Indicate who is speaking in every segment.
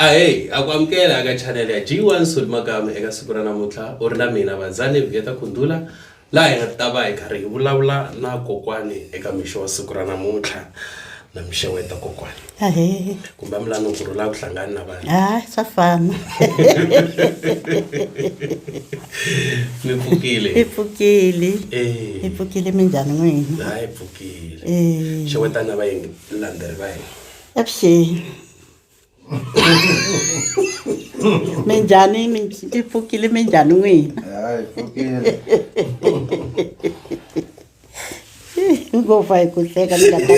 Speaker 1: ahey a ku amukela eka chanele ya g1 soli makame eka siku ra namuntlha u ri na mina vazane vuyeta kundula laha hi nga ta va hi karhi hi vulavula na kokwani eka mixo wa siku ra namuntlha na mixeweta kokwani ahe kumbe a mi lani ku rhula ku hlangani na vanhu hayi swa fana mi pfukile i pfukile
Speaker 2: Eh. i pfukile minjhani n'wina hayi pfukile
Speaker 1: Eh. xewetana va yingi landzeri va hina avuxeni
Speaker 2: minjhani mi- i pfukile minjhani n'wina Hayi, pfukile. ngopfa hi ku hleka ni nga ta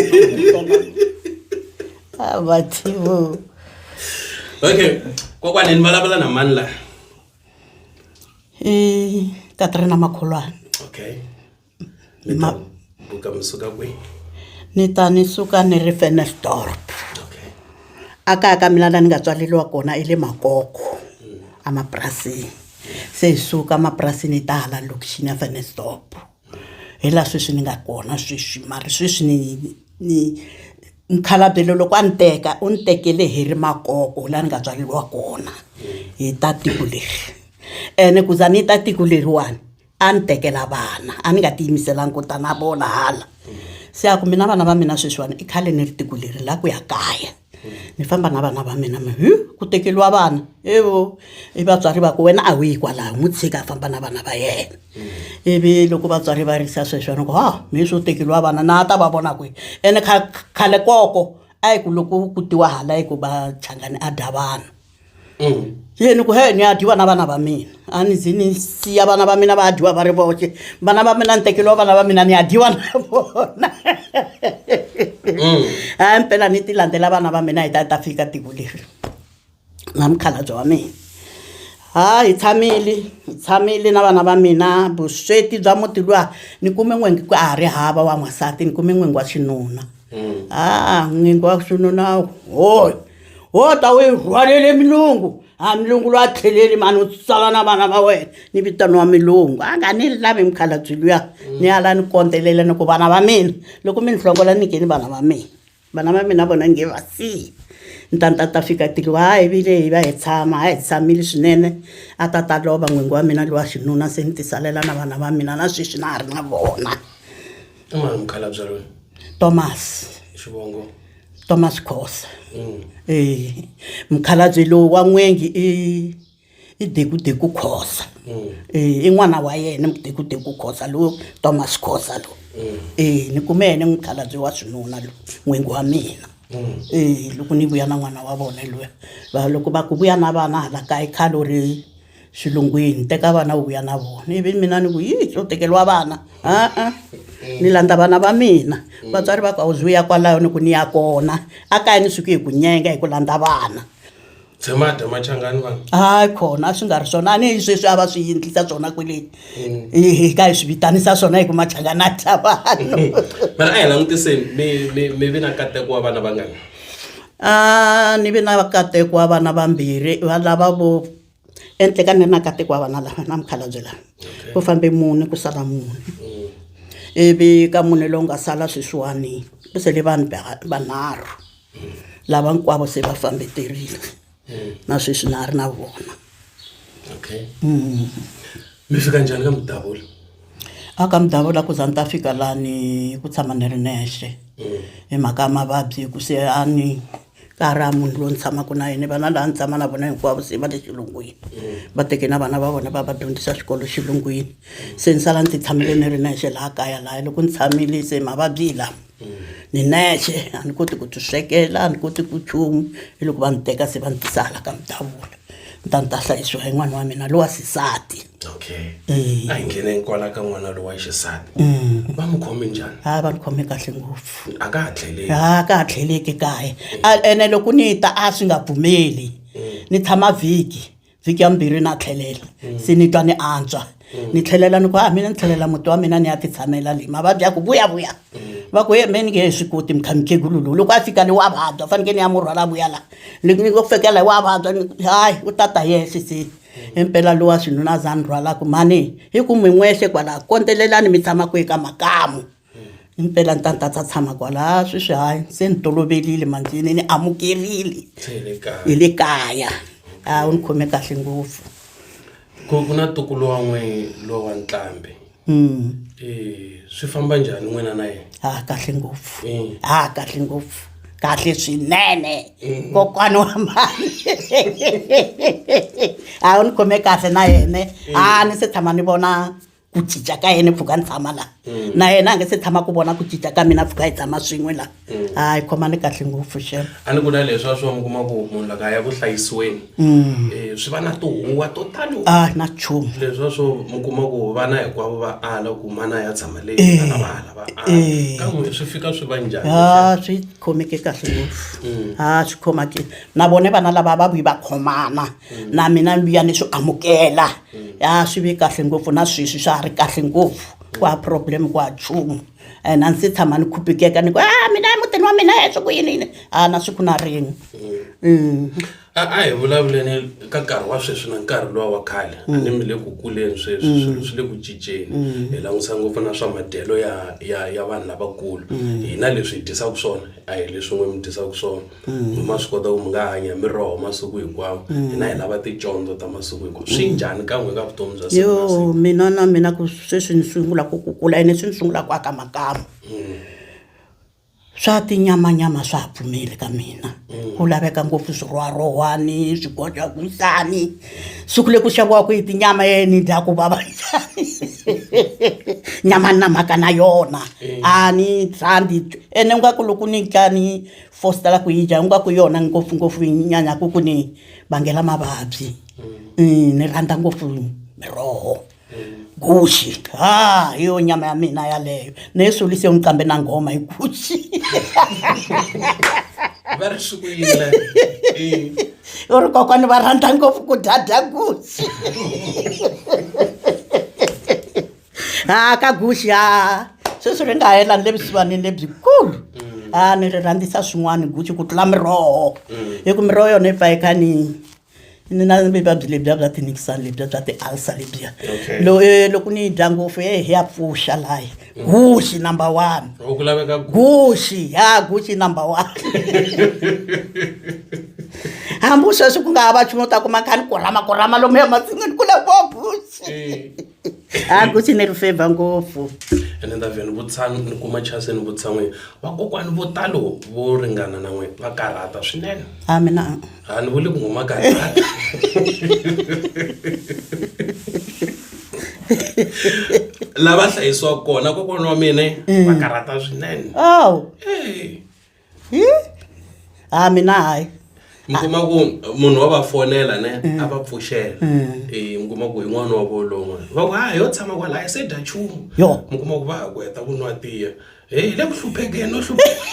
Speaker 2: ah, vativo
Speaker 1: okay kokwane ni vulavula na mani laha i
Speaker 2: katrina makholwana okay
Speaker 1: ma buka mi suka kwihi ni ta ni
Speaker 2: suka ni ri fenestorp okay a kaya ka mina la ni nga tswaleriwa kona i le makoko mm. emapurasini se hi suka emapurasini hi ta hala lokixini ya fenestorp hi laha sweswi ni nga kona sweswi mara sweswi ni ni mukhalabye loyi loko a ni teka u ni tekele hi ri makoko laha ni nga tswaleriwa kona hi ta tiko leri ene ku za ni ta tiko leriwani a ni tekela vana a ni nga tiyimiselanga ku ta na vona hala se a ku mina vana va mina sweswiwani i khale ni ri tiko leri la ku ya kaya. ni famba na vana va mina hi ku tekeriwa vana evo i vatswari va ku wena a wu yi kwalaho n'wi tshika a famba na vana va yena ivi loko vatswari va risa sweswo ni ku ha mi swo tekeriwa vana na a ta va vona kwihi ene khale koko a yi ku loko ku tiwa hala yi ku va changani a dya vanhu yeni ku he ni ya dyiwa na vana va mina a ni zi ni siya vana va mina va dyiwa va ri voxe vana va mina ni tekeliwa vana va mina ni ya dyiwa na vona a mpela ni ti landzela vana va mina hi ta ta fika tiko leri na mukhalabye wa mina ha hi tshamile hi tshamile na vana va mina vusweti bya muti luwa ni kume n'wengi ku a ha ri hava wa n'wansati ni kume n'wengi wa xinuna Mm. haa n'wingi wa swino nawu hoy ho ta wu yi rhwalele milungu ha milungu loyi a tlheleli mani u tsala na vana va wena ni vitano wa milungu a nga ni lavi mukhalabyi luya ni ala ni kondzelela ni ku vana va mina loko mi ni hlongola ni ngeni vana va mina vana va mina vona nge va siyi ni ta ni ta ta fika tilo ha hi vile hi va hi tshama ha hi tshamile swinene a ta ta lova n'wingi wa mina lowa xinuna se ni tisalela na vana va mina na sweswi na ha ri na vona i mani
Speaker 1: mukhalabye loyi thomas
Speaker 2: xivongo
Speaker 1: thomas
Speaker 2: khosa mm. eh mukhalabye lowu wa n'wengi i i dekudeku khosa mm. eh i n'wana wa yena mudekudeku khosa lowu thomas khosa lowu mm. eh ni kume yena mukhalabye wa swinuna lowu n'wengi wa mina eh loko ni vuya na n'wana wa vona loyi va loko va ku vuya na vana hala kaya khale u ri xilungwini teka vana u vuya na vona ivi mina ni ku yi swo tekeriwa vana a-a ni landza vana va mina vatswari va ku a wu ze u ya kwalayo ni ku ni ya kona a kaya ni suke hi ku nyenga hi ku landza vana tshema dya
Speaker 1: machangani vanhu hayi khona a swi nga
Speaker 2: ri swona a ni hi sweswi a va swi yindlisa swona kwele hi ka hi swi vitanisa swona hi ku machangani a dya vanhu mara a hi
Speaker 1: langutiseni mi mi mi vi na kateko wa vana vangani a
Speaker 2: ni vi na kateko wa vana vambirhi va lava vo ehenhla ka mina na katekwa wa vana lava na mukhalabye lava ku fambe mune ku sala mune ivi ka mune lowu nga sala sweswiwani ku sele vanhu vanharhu lava hinkwavo se va fambe terile na sweswi na ha ri na vona okay mm.
Speaker 1: mi fika njhani ka mudavula a ka
Speaker 2: mudavula ku za ni ta fika lani ku tshama ni ri nexe mm. hi mhaka ya mavabyi ku se a ni mm. ka ha ri ha munhu loyi ni tshamaka na yena vana laha ni tshama na vona hinkwavo se va le xilungwini va teke na vana va vona va va dyondzisa xikolo xilungwini se ni sala ni ti tshamile ni ri nexe laha kaya laha loko ni tshamile se mavabyi hi lama ni nexe a ni koti ku ti swekela a ni koti ku chumu hi loko va ni teka se va ni tisa hala ka mudavula ni ta ni ta hlayisiwa hi n'wana wa mina lowa xisati okay
Speaker 1: Eh. a hi ngheneni kwala ka n'wana lowa xisati va n'wi khome njhani a va ni khome kahle
Speaker 2: ngopfu a ka ha tlheleli ha
Speaker 1: ka ha tlheleki
Speaker 2: kaye A- ene loko ni ta a swi nga pfumeli ni tshama vhiki vhiki ya mbirhi na tlhelela se ni twa ni antswa ni tlhelela ni ku a mina ni tlhelela muti wa mina ni ya ti tshamela leyi mavabyi ya ku vuya vuya va ku yembeni nge hi swi koti mikha mikhegulu lowu loko a fika le wa vabya fanekele ni ya mu rhwala vuya la ni ni ku fekela hi wa vabya hayi u ta ta yexe se impela lowa swinuna za ni rhwalaku mhani hi ku mi n'wexe kwala kondzelelani mi tshama kwihi ka makamu mpela ni ta ni ta ta tshama kwalaya sweswi hayi se ni toloverile manjini ni amukerile hi le kaya a wu ni khome kahle ngopfu ku ku
Speaker 1: na tukulu wa n'we lowa ntlambi um swi famba njhani n'wina na yena ha kahle ngopfu
Speaker 2: ha kahle ngopfu kahle swinene kokwana wa mali a wu ni khome kahle na yene a ni se tshama ni vona ku cinca ka yena pfuka ni tshama laha mm. na yena a nge se tshama ku vona ku cinca ka mina pfuka hi tshama swin'we laha mm. hayi khomani kahle ngopfu xela a ni ku na leswi a swi
Speaker 1: va mi kuma ku munhu laka ya ku hlayisiweni mm. eh, swi va na tihuwa to tani a na chumu leswi
Speaker 2: a swo mi
Speaker 1: kuma ku vana hinkwavo va ala ku mana ya tshama leyi eh. ana va ala va ala eh. ka n'wina swi fika swi va njhani a swi khomeke
Speaker 2: kahle ngopfu a swi khomake na vone vana lava va vuyi va khomana na mina luya ni swi amukela ya swi ve kahle ngopfu na sweswi swa ha ri kahle ngopfu ku ha problem ku ha chumu and a ndzi se tshama ni khupikeka ni ku a mina emutini wa mina heswi ku yini yini a na siku na rin'we Mm.
Speaker 1: a a hi vulavuleni ka nkarhi wa sweswi na nkarhi lowa wa khale a ni mi le ku kuleni sweswi swilo swi le ku cinceni hi langutisa ngopfu na swa madyelo ya ya ya vanhu lavakulu hina leswi hi dyisaka swona a hi leswin'we mi dyisaka swona so ma swi kota ku mi nga hanya hi miroho masiku hinkwawo hina hi lava ticondzo ta masiku hinkwawo swi njhani ka n'we ka vutomi bya siku na siku yo mina na
Speaker 2: mina ku sweswi ni sungula ku kukula ene swi ni sungula ku aka makamu swa tinyamanyama swa ha pfumeli ka mina ku laveka ngopfu swirwarowani swigoja ku njhani siku le ku xaviwaku yi tinyama ye ni dya ku vava njhani nyama ni na mhaka na yona a ni sandi ene u nga ku loko ni dya ni fosta la ku yi dya ingaku yona ngopfungopfu yi nyanyaku ku ni vangela mavabyi mm, ni rhandza ngopfu miroho guxi ha hi yo nyama ya mina yaleyo ni yi sulise n'wi kambe na nghoma hi guxi
Speaker 1: va ri swi ku yile
Speaker 2: u ri kokwani va rhandza ngopfu ku dya dya guxi ha ka guxi ha sweswi ri nga hela ni le vusiwanini lebyikulu mm. ha ni ri rhandzisa swin'wana guxi ku tlula miroho mm. hi ku miroho yona yi pfa yi kha ni ni na vuvabyi lebyiya bya tinikisani lebyiya bya ti-alsa lebyiya eh, loko ni yi dya ngopfu e hi ya pfuxa layi mm. guxi number one guxi
Speaker 1: ha
Speaker 2: guxi number one hambi sweswi ku nga ha va chun'u ta kuma kha ni kurhama kurhama lomu ya masin'wini ku le vo guxi eh. a ku xi ni ri favor ngopfu ene ni ta vhe ni
Speaker 1: vutshami ni kuma chance ni vutisa n'wini vakokwani vo talo vo ringana na n'wini va karhata swinene a mina a
Speaker 2: ni vuli ku ngoma
Speaker 1: karhata lava hlayisiwaka kona kokwana wa mina va karhata swinene awu Hey. Hi?
Speaker 2: ha mina hayi mi kuma ku
Speaker 1: munhu wa va fonela ne a va pfuxela Eh, mi kuma ku hi n'wana wa volon'we va ku ha yo tshama kwalaya se dya chumu Yo. mi kuma ku va ha ku heta ku nwa tiya he hi le ku hluphekeni no hlupheka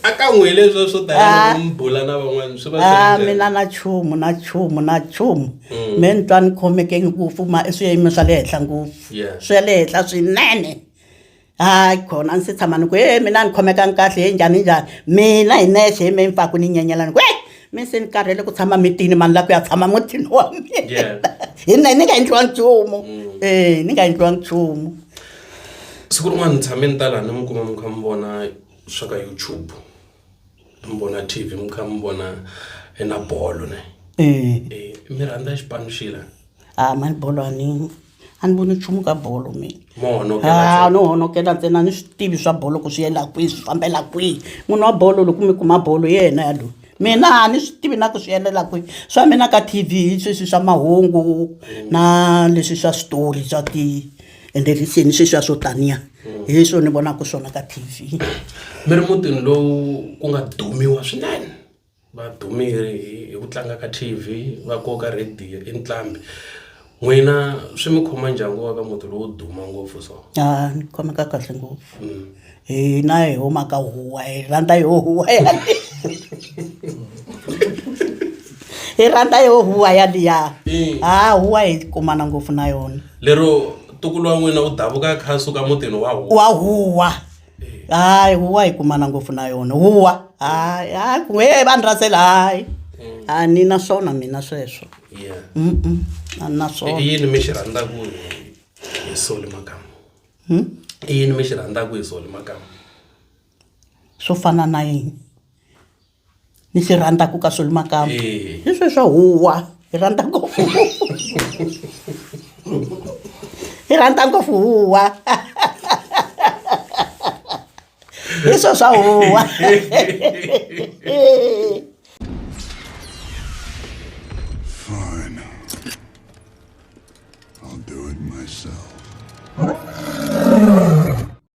Speaker 1: a ka n'wi hi leswo swo tala mi bula na van'wana swi va swi ha ri njhani? mina na chumu
Speaker 2: na chumu na chumu me ni twa ni khomeke ngopfu ma i swiyimo swa le henhla ngopfu Yes. swa le henhla swinene hayi khona a ni se tshama ni ku he mina a ni khomekangi kahle he njhani njhani mina hi nexe hi me ni pfaku ni nyenyela ni ku e mi se ni karhele ku tshama mitini mani la ku ya tshama mutini wa mina hi na ni nga endliwa nchumu e ni nga endliwa nchumu
Speaker 1: siku rin'wana ni tshame ni ta laha ni mi kuma mi kha mi vona swa ka youtube mi vona t v mi kha mi vona hi na bolo ne mi rhandza xipano xila a mani bolo
Speaker 2: a ni a ni voni nchumu ka bolo mina no
Speaker 1: honokela ntsena ni
Speaker 2: swi tivi swa bolo ku swi yela kwihi swi fambela kwihi munhu wa bolo loko mi kuma bolo hi yena ya loyi mina a ni swi tivi na ku swi endlela kwihi swa mina ka T_V hi sweswi swa mahungu na leswi swa switori swa ti and then leswiyani sweswiya swo taniya hmm. hi swo ni vonaka swona ka T_V
Speaker 1: mi ri mutini
Speaker 2: lowu
Speaker 1: ku nga dumiwa swinene Va dumile hi hi ku tlanga ka T_V va koka radio i nqambi n'wina swi mi khoma njhani ku va ka muti lowo duma ngopfu so. A ni khomeka
Speaker 2: kahle ngopfu hina hi huma ka huwa hi rhandza yo huwa yaleyo hi rhandza yo huwa yaliya ha huwa hi kumana ngopfu na yona. Lero ntukulu
Speaker 1: wa n'wina u davuka a kha a suka mutini wa huwa. Wa huwa.
Speaker 2: hayi huwa hi kumana ngopfu na yona huwa hayi hayi ku he vanhu rasela hayi a ni na swona mina sweswo Yeah.
Speaker 1: Mm-mm, a ni
Speaker 2: na i swona yini mi xi rhandzaka
Speaker 1: hi soli makamu Hmm? i yini mi xi rhandzaka hi soli makamu
Speaker 2: swo fana na yini ni swi rhandzaka ka swilo makamba Eh. hi sweswa huwa hi rhandza ngopfu hi rhandza ngopfu huwa hi sweswa huwa
Speaker 3: Fine. I'll do it myself.